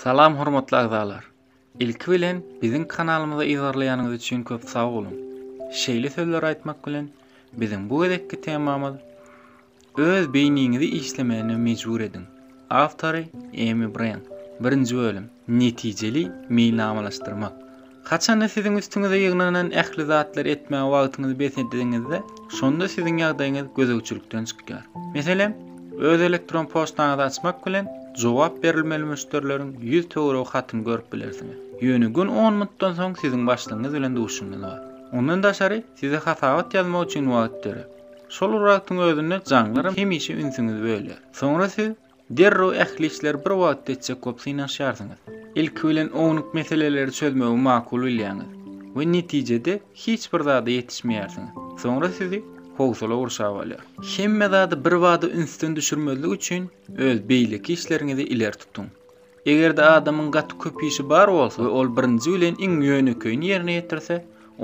Salam hormatly agzalar. Ilki bilen biziň kanalymyza yzarlaýanyňyz üçin köp sag boluň. Şeýle sözleri aýtmak bilen biziň bu gezekki temamyz Öz beýniňizi işlemäne mejbur ediň. Awtory Amy Bren. Birinji bölüm. Netijeli meýilnamalaşdyrmak. Haçanda siziň üstüňize ýygnanan ähli zatlary etmäge wagtyňyzy bes edeniňizde, şonda siziň ýagdaýyňyz gözegçilikden çykýar. Meselem, öz elektron poçtaňyzy açmak bilen, jogap berilmeli müşderileriň ýüz töweregi hatyny görüp bilersiňiz. Ýöne gün on minutdan soň siziň başlygyňyz bilen duşuşygyňyz bar. Ondan daşary, size hasabat ýazmak üçin wagt dörär. Şol wagtyň özünde jaňlaram hemişe ünsüňizi bölýär. Soňra siz Derrew ähli işleri bir wagtda etjek bolup synanyşýarsyňyz. Ilki bilen ownuk meseleleri çözmegi makul bilýäňiz we netijede hiç bir zada ýetişmeýärsiňiz. Soňra sizi howsala gurşap alýar. Hemme zady birbada ünsden düşürmezlik üçin öz beýleki işleriňizi ileri tutuň. Eger-de adamyň gaty köp işi bar bolsa we ol birinji bilen iň ýönekeýini ýerine ýetirse,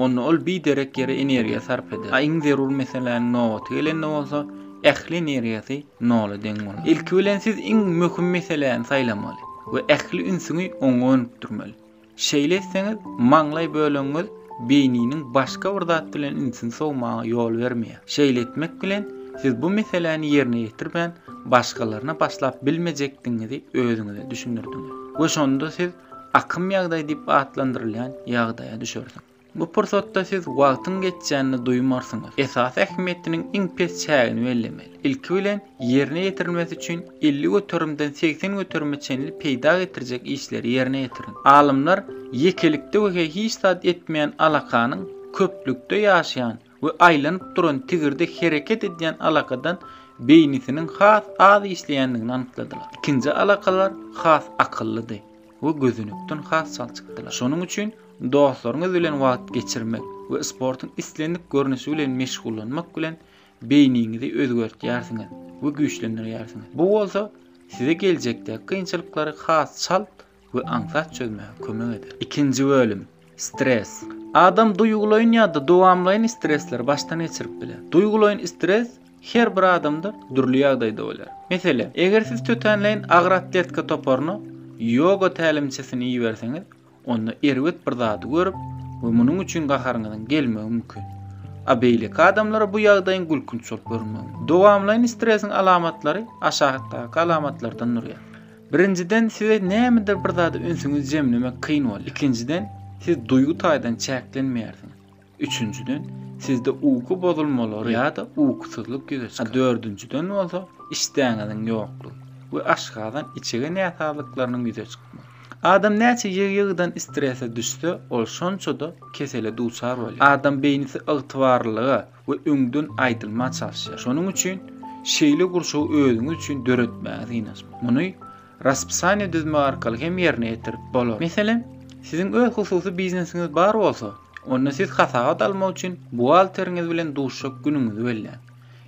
onda ol biderek ýere energiýa sarp eder. A iň zerur meseläniň nobaty gelende bolsa, ähli energiýasy nola deň bolar. Ilki bilen siz iň möhüm meseläni saýlamaly we ähli ünsüňi oňa gönükdirmeli. Şeýle etseňiz, maňlaý bölegiňiz beýniniň başga bir zat bilen ünsüni sowmaga ýol bermeýär. Şeýle etmek bilen, siz bu meseläni ýerine ýetirmän, başgalaryna başlap bilmejekdigiňizi özüňize düşündirdiňiz we şonda siz akym ýagdaýy diýip atlandyrylýan ýagdaýa düşersiňiz. Bu pursatda siz wagtyň geçýänini duýmarsyňyz. Esasy ähmiýetiniň iň pes çägini bellemeli. Ilki bilen, ýerine ýetirilmesi üçin elli göterimden segsen göterime çenli peýda getirjek işleri ýerine ýetiriň. Alymlar ýekelikde we-hä hiç zat etmeýän alakanyň köplükde ýaşaýan, we aýlanyp duran tigirde hereket edýän alakadan beýnisiniň has az işleýändigini anykladylar. Ikinji alakalar has akyllydy we gözenekden has çalçykdylar. Şonuň üçin dostlaryňyz bilen wagt geçirmek we sportuň islendik görnüşi bilen meşgullanmak bilen beýniňizi özgertýärsiňiz we güýçlendirýärsiňiz. Bu bolsa size geljekdäki kynçylyklary has çalt we aňsat çözmäge kömek eder. Ikinji bölüm, Stres. Adam duýgulaýyn ýa-da dowamlaýyn stresleri başdan geçirip biler. Duýgulaýyn stres her bir adamda dürli ýagdaýda bolýar. Meselem, eger siz tötänleýin agyr atletika toparyna ýoga tälimçisini iberseňiz, onda erbet bir zady görüp we munuň üçin gaharyňyzyň gelmegi mümkin. A beýleki adamlara bu ýagdaýyň gülkünç bolup görünmegi mümkin. Dowamlaýyn stresiň alamatlary aşakdaky alamatlardan durýar. Birinjiden, size nämedir bir zada ünsüňizi jemlemek kyn bolýar. Ikinjiden, siz duýgy taýdan çäklenmeýärsiňiz. Üçünjiden, sizde uky bozulmalary ýa-da ukusyzlyk ýüze çykar. A dördünjiden bolsa, işdäňiziň ýoklugy we aşgazan, içege näsazlyklarynyň ýüze çykmagy. Adam näçe ýygy-ýygydan strese düşse, ol şonça-da kesele duçar bolýar. Adam beýnisi ygtybarlylyga, we öňden aýdylmaga çalyşýar. Şonuň üçin şeýle gurşawy özüňiz üçin döretmäge synanyşmaly. Muny raspysaniýa düzmek arkaly hem ýerine ýetirip bolar. Meselem, siziň öz hususy biznesiňiz bar bolsa, onda siz hasabat almak üçin buhgalteriňiz bilen duşuşjak günüňizi belläň.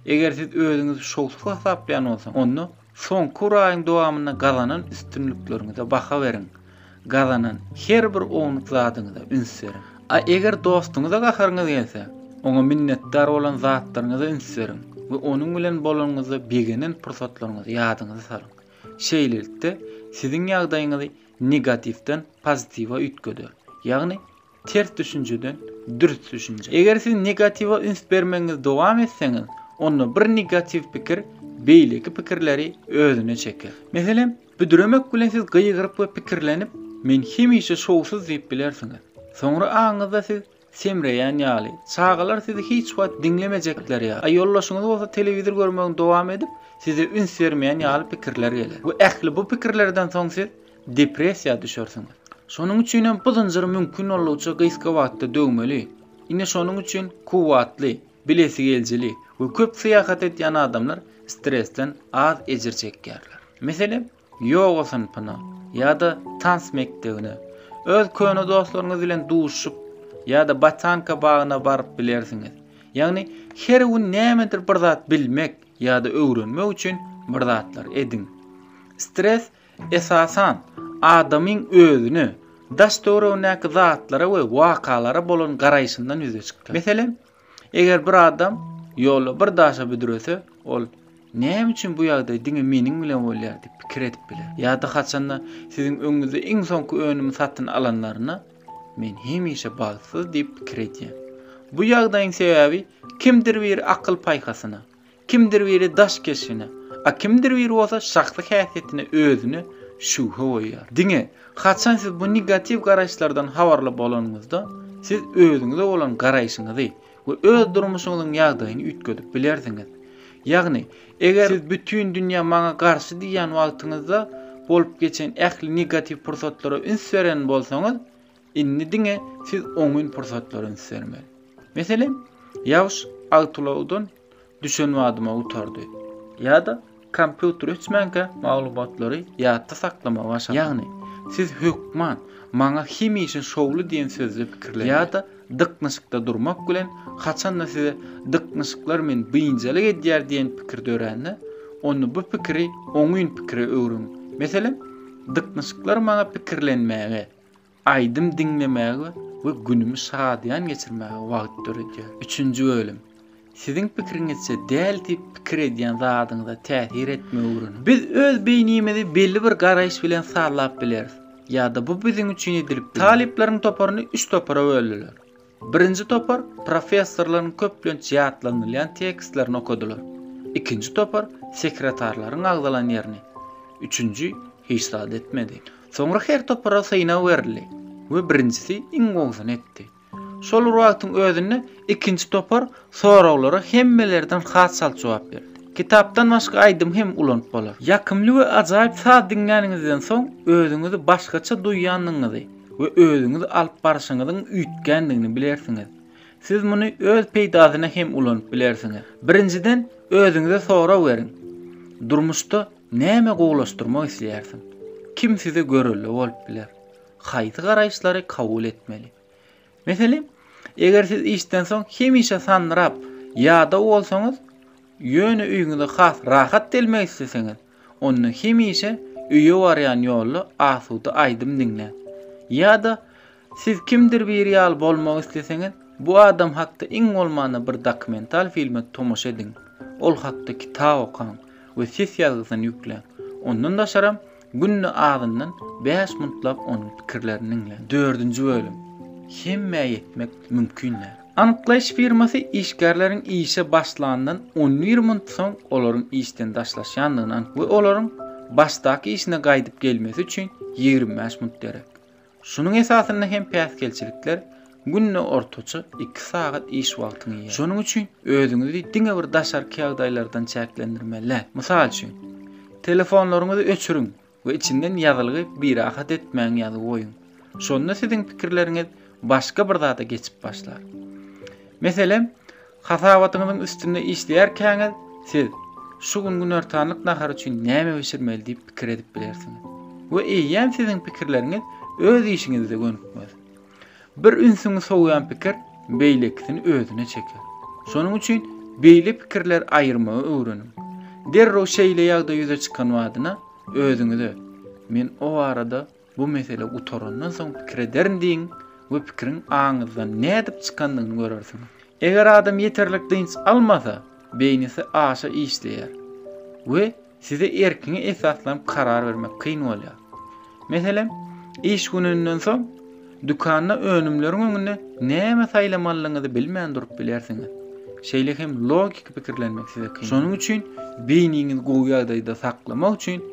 Eger siz özüňizi şowsuz hasaplaýan bolsaňyz, onda Soňky bir aýyň dowamynda gazanan üstünlikleriňize baha beriň. Gazanan her bir ownuk zadyňyza üns beriň. A eger dostuňyza gaharyňyz gelse, oňa minnetdar bolan zatlaryňyza üns beriň we onuň bilen bolanyňyzda begenen pursatlaryňyzy ýadyňyza salyň. Şeýlelikde, siziň ýagdaýyňyzy negatiwden pozitiwe üýtgeder, ýagny Ters düşünjeden dürs düşünje. Eger siz negatiwa üns bermegiňizi dowam etseňiz, onda bir negatiw pikir beýleki pikirleri özüne çeker. Meselem, büdremek bilen siz gygyryp we pikirlenip, Men hemişe şowsuz diýip bilersiňiz. Soňra aňyňyzda siz semreýän ýaly, çagalar sizi hiç wagt diňlemejekler ýaly, a ýoldaşyňyz bolsa telewizor görmegini dowam edip, size üns bermeýän ýaly pikirler geler. We ähli bu pikirlerden soň siz depressiýa düşersiň. Şonuň üçinem bu zynjyry mümkin boldugyça gysga wagtda döwmeli. Ine şonuň üçin kuwwatly, bilesigelijili we köp syýahat edýän adamlar stresden az ejir çekýärler. Meselem, ýoga synpyna ýa-da tans mekdebine, öz köne dostlaryňyz bilen duşup ýa-da botanka bagyna baryp bilersiňiz. Ýagny her gün nämedir bir zat bilmek ýa-da öwrenmek üçin bir zatlar ediň. Stres Esasan, adamyň özüne, daş-töweregindäki zatlara we wakalara bolan garaýşyndan ýüze çykýar. Meselem, eger bir adam ýolda bir daşa büdrese, ol, Näme üçin bu ýagdaý diňe meniň bilen bolýar? diýip pikir edip biler. Ýa-da haçanda siziň öňüňizde iň soňky önümi satyn alanlarynda, Men hemişe bagtsyz diýip pikir edýän. Bu ýagdaýyň sebäbi kimdir bir akyl-paýhasyna, Kimdir biri daş keşbine, a kimdir biri bolsa şahsy häsiýetine özüne şübhe goýýar. Diňe, haçan siz bu negatiw garaýyşlardan habarly bolanyňyzda, siz özüňize bolan garaýşyňyzy we öz durmuşyňyzyň ýagdaýyny üýtgedip bilersiňiz. Ýagny, eger siz bütin dünýä maňa garşy diýýän wagtyňyzda bolup geçen ähli negatiw pursatlara üns beren bolsaňyz, Indi diňe siz oňyn pursatlaryny sermeli. Meselem, ýagyş awtoulagdan düşen badyma gutardy. Ýa-da kompýuter öçmänkä maglumatlary ýatda saklamagy başarmaly. Ýagny, siz hökman Maňa hemişe şowly diýen sözde pikirlenmeli. Ýa-da dyknyşykda durmak bilen haçanda size dyknyşyklar meni biynjalyk edýär diýen pikir dörände, onda bu pikiri oňyn pikire öwrüň. Meselem, Dyknyşyklar maňa pikirlenmäge, Aýdym diňlemäge we günümi şadyýan geçirmäge wagt döredýär. Üçünji bölüm. Siziň pikiriňizçe däl diýip pikir edýän zadyňyza täsir etmegi öwreniň. Biz öz beýnimizi belli bir garaýyş bilen sazlap bileris. Ýa-da bu biziň üçin edilipdir. Talyplaryň toparyny üç topara böldüler. Birinji topar professorlaryň köplenç ýatlanylýan tekstlerini okadylar. Ikinji topar sekretarlaryň agzalan ýerini, üçünji hiç zat etmedi. Soňra her topara synag berildi we birinjisi iň gowusyny etdi. Şol bir wagtyň özünde ikinji topar soraglara hemmelerden has çalt jogap berdi. Kitapdan başga aýdym hem ulanyp bolar. Ýakymly we ajaýyp saz diňläniňizden soň özüňizi başgaça duýýandygyňyzy, we özüňiz alyp barşyňyzyň üýtgändigini bilersiňiz. Siz muny öz peýdasyna hem ulanyp bilersiňiz. Birinjiden, özüňize sorag beriň, Durmuşda näme gowulaşdyrmak isleýärsiň? Kim size görelde bolup biler? Haýsy garaýyşlary kabul etmeli? Meselem, eger siz işden soň hemişe sanrap, ýadaw bolsaňyz, ýöne öýüňize has rahat delmek isleseňiz, onda hemişe öýe barýan ýolda asuda aýdym diňläň. Ýa-da siz kimdir biri ýaly bolmak isleseňiz, bu adam hakda iň bolmanda bir dokumental filme tomaşa ediň, ol hakda kitap okaň we ses ýazgysyny ýükläň. Ondan daşaram, Günde azyndan bäş mintlap onuň pikirlerini diňle. Dördünji bölüm, Hemmä ýetmek mümkin däl. Anyklaýyş firmasy işgärleriň işe başlandan on bir minut soň olaryň işden daşlaşýandygyny anyk we olaryň başdaky işine gaýdyp gelmesi üçin ýigrimi bäş minut gerek. Şunuň esasynda hem päsgelçilikler günde ortaça iki sagat iş wagtyňy iýýär. Şonuň üçin özüňizi diňe bir daşarky ýagdaýlardan çäklendirmeli. Mysal üçin, telefonlaryňyzy öçüriň we içinden ýazylgy Birahat etmäň ýazygy goýuň. Şonda siziň pikirleriňiz başga bir zada geçip başlar. Meselem, Hasabatyňyzyň üstünde işleýärkäňiz, siz Şu gün günortanlyk nahary üçin näme bişirmeli diýip pikir edip bilersiňiz. We eýýäm siziň pikirleriňiz öz işiňizde gönükmez. Bir ünsüňi sowýan pikir beýlekisini özüne çeker. Şonuň üçin beýle pikirleri aýyrmagy öwreniň. Derrew şeýle ýagdaý ýüze çykan badyna özüňize, Men o barada Bu mesele gutarandan soň pikir ederin diýiň we pikiriň aňyňyzdan nädip çykandygyny görersiňiz. Eger adam ýeterlik dynç almasa, beýnisi aşa işleýär we size erkiňi esaslanyp karar bermek kyn bolýar. Meselem, iş gününden soň dükanda önümleriň öňünde näme saýlamalyňyzy bilmän durup bilersiňiz. Şeýle hem logiki pikirlenmek size kyn. Şonuň üçin beýniňizi gowy ýagdaýda saklamak üçin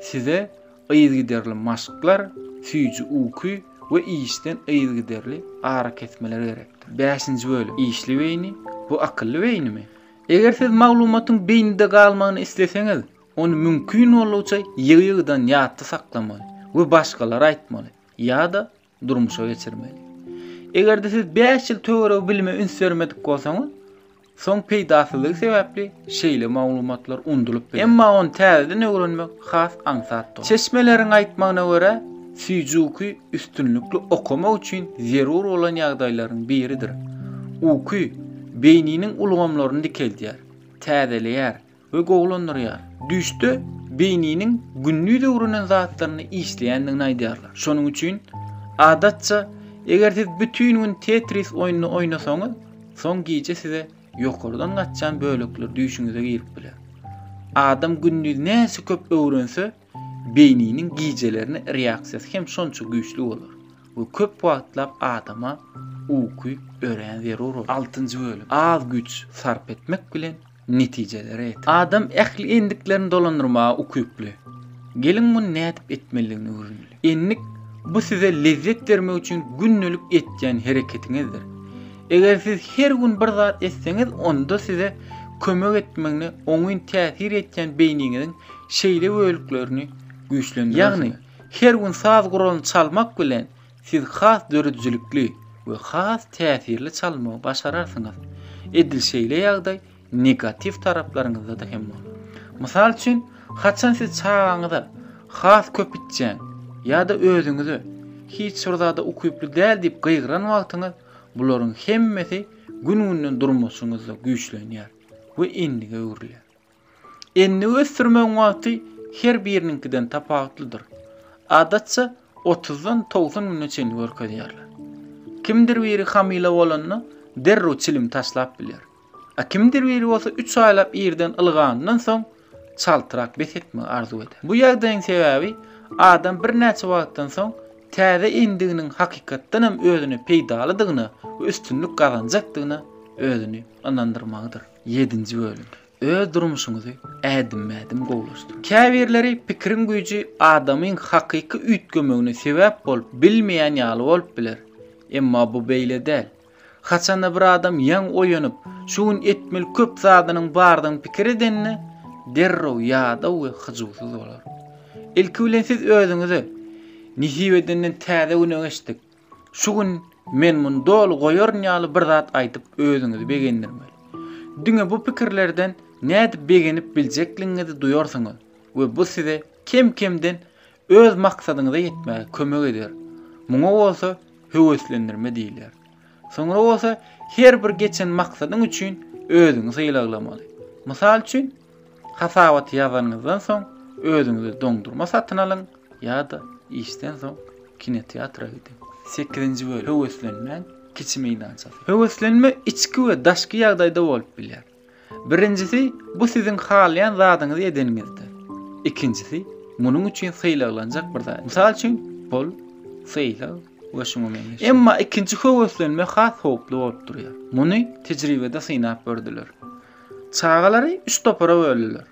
size Yzygiderli maşklar, süýji uky we işden yzygiderli arakesmeler gerekdir. Bäşinji bölüm, işli beýni, bu akylly beýnimi? Eger siz maglumatyň beýnide galmagyny isleseňiz, ony mümkin boldugyça ýygy-ýygydan ýatda saklamaly we başgalara aýtmaly ýa-da durmuşa geçirmeli. Eger-de siz 5 ýyl töweregi bilime üns bermedik bolsaňyz, soň peýdasyzlygy sebäpli şeýle maglumatlar undulyp biler. Emma ony täzeden öwrenmek has aňsatdyr. Çeşmeleriň aýtmagyna görä, Süýjuki üstünlikli okamak üçin zerur bolan ýagdaýlaryň biridir. Uky beýniniň ulgamlaryny dikeldýär, täzeleýär, we gowulandyrýar. Düýşde beýniniň gündiz öwrenen zatlaryny işleýändigini aýdýarlar. Şonuň üçin, adatça, eger siz bütin gün Tetris oýnuny oýnasaňyz, soň gije size ýokardan gaçýan bölekler düýşüňize girip biler. Adam gündiz näçe köp öwrense, beýniniň gijelerine reaksiýasy hem şonça güýçli bolar we köp wagtlap adama uky örän zerur bolar. Altynjy bölüm. Az güýç sarp etmek bilen netijelere ýeter. Adam ähli endiklerini dolandyrmaga ukyply. Geliň muny nädip etmelidigini öwreneli. Endik bu size lezzet bermek üçin gündelik etýän hereketiňizdir. Eger siz her gün bir zat etseňiz onda size kömek etmegine oňyn täsir etýän beýniňiziň şeýle bölüklerini güýçlendirersiňiz. Ýagny her gün saz guralyny çalmak bilen Siz has döredijilikli we has täsirli çalmagy başararsyňyz. Edil şeýle ýagdaý negatiw taraplaryňyzda-da hem bolar. Mysal üçin, haçan siz çagaňyza has köp içýäň ýa-da özüňize hiç bir zada ukyply däl diýip gygyran wagtyňyz, bularyň hemmesi gün-günden durmuşyňyzda güýçlenýär we endige öwrülýär. Endiw ösdürmegiň wagty her biriniňkiden tapawutlydyr. Adatça, otuzdan togsan güne çenli görkezýärler. Kimdir biri hamyla bolanda derrew çilim taşlap biler. A kimdir biri bolsa üç aýlap irden ylganyndan soň çaltrak bes etmegi arzuw eder. Bu ýagdaýyň sebäbi adam birnäçe wagtdan soň täze endiginiň hakykatdan hem özüne peýdalydygyna we üstünlik gazanjakdygyna özüni ynandyrmagydyr. Ýedinji bölüm. Öz durmuşyňyzy ädimme-ädim gowulaşdyryň. Käbirleri pikiriň güýji adamyň hakyky üýtgemegine sebäp bolup bilmeýän ýaly bolup biler. Emma bu beýle däl. Haçanda bir adam ýaňy oýanyp, şu gün etmeli köp zadynyň bardygyny pikir edende, derrew ýadaw we hyjuwsyz bolar. Ilki bilen siz özüňize, Nesip edenden täze güne geçdik. Şu gün men muny doly goýaryn ýaly bir zat aýdyp özüňizi begendirmeli. Diňe bu pikirlerden nädip begenip biljekligiňizi duýarsyňyz we bu size kem-kemden öz maksadyňyza ýetmäge kömek eder. Muňa bolsa höweslendirme diýilýär. Soňra bolsa her bir geçen maksadyň üçin özüňi sylaglamaly. Mysal üçin, Hasabaty ýazanyňyzdan soň özüňize doňdurma satyn alyň ýa-da işden soň kinoteatra gidiň. Sekizinji bölüm, Höweslenmäň kiçi meýdançasy. Höweslenme içki we daşky ýagdaýda bolup bilýär. Birinjisi, bu siziň halaýan zadyňyzy edeniňizde. Ikinjisi, munuň üçin sylaglanjak bir zat, mysal üçin, pul, sylag we şuňa meňzeş. Emma ikinji höweslenme has howply bolup durýar. Muny tejribede synap gördüler. Çagalary üç topara böldüler.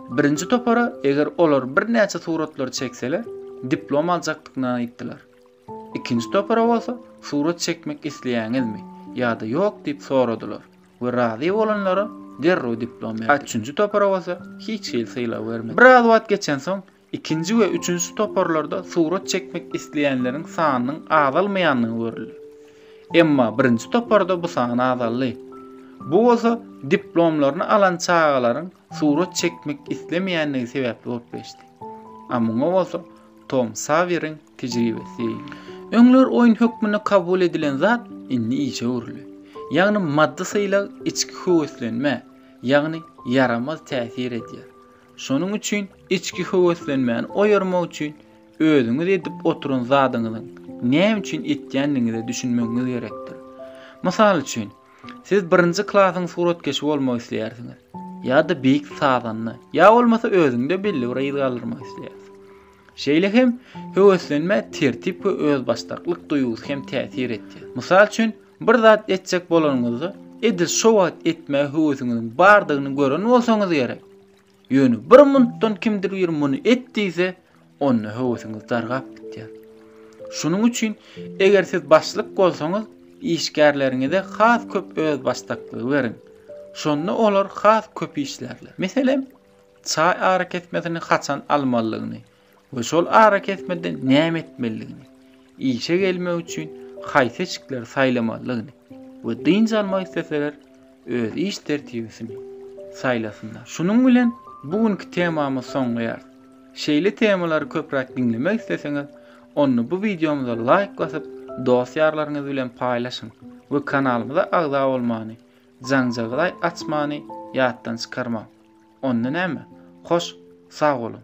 Birinji topara eger olar birnäçe suratlary çekseler, diplom aljakdyklaryny aýtdylar. Ikinji topara bolsa surat çekmek isleýäňizmi ýa-da ýok diýip soradylar we razy bolanlara derrew diplom berdiler. Üçünji topara bolsa hiç hili sylag bermediler. Biraz wagt geçensoň Ikinji we üçünji toparlarda surat çekmek isleýänleriň sanynyň azalmaýandygy görüldi. Emma birinji toparda bu san azaldy. Bu bolsa diplomlaryny alan çagalaryň surat çekmek islemeýändigi sebäpli bolup geçdi. A muňa bolsa Tom Sawýeriň tejribesi. Öňler oýun hökmünde kabul edilen zat indi işe öwrüldi. Ýagny maddy sylag içki höweslenmä, ýagny ýaramaz täsir edýär. Şonuň üçin içki höweslenmäni oýarmak üçin özüňiz edip oturan zadyňyzyň näme üçin etýändigiňize düşünmegiňiz gerekdir. Mysal üçin, siz birinji klasyň suratkeşi bolmak isleýärsiňiz, ýa-da beýik sazanda, ýa bolmasa özüňde belli bir yz galdyrmak isleýärsiň. Şeýle hem höweslenmä tertip we özbaşdaklyk duýgusy hem täsir edýär. Mysal üçin, Bir zat etjek bolanyňyzda, edil şo wagt etmäge höwesiňiziň bardygyny gören bolsaňyz gerek. Ýöne bir munutdan kimdir biri muny et diýse, onda höwesiňiz dargap gitýär. Şunuň üçin, eger siz başlyk bolsaňyz, işgärleriňize has köp özbaşdaklygy beriň. Şonda olar has köp işlärler. Meselem, çaý arakesmesini haçan almalydygyny, we şol arakesmede näme etmelidigini, işe gelmek üçin haýsy eşikleri saýlamalydygyny we dynç almak isleseler öz iş tertibisini saýlasynlar. Şunuň bilen bu günki temamyzy soňlaýarys. Şeýle temalary köpräk diňlemek isleseňiz, onda bu wideomyza laýk basyp, dost-ýarlaryňyz bilen paýlaşyň we kanalymyza agza bolmany Janjaglaý açmany ýatdan çykarmaň. Onda näme? Hoş, sag boluň.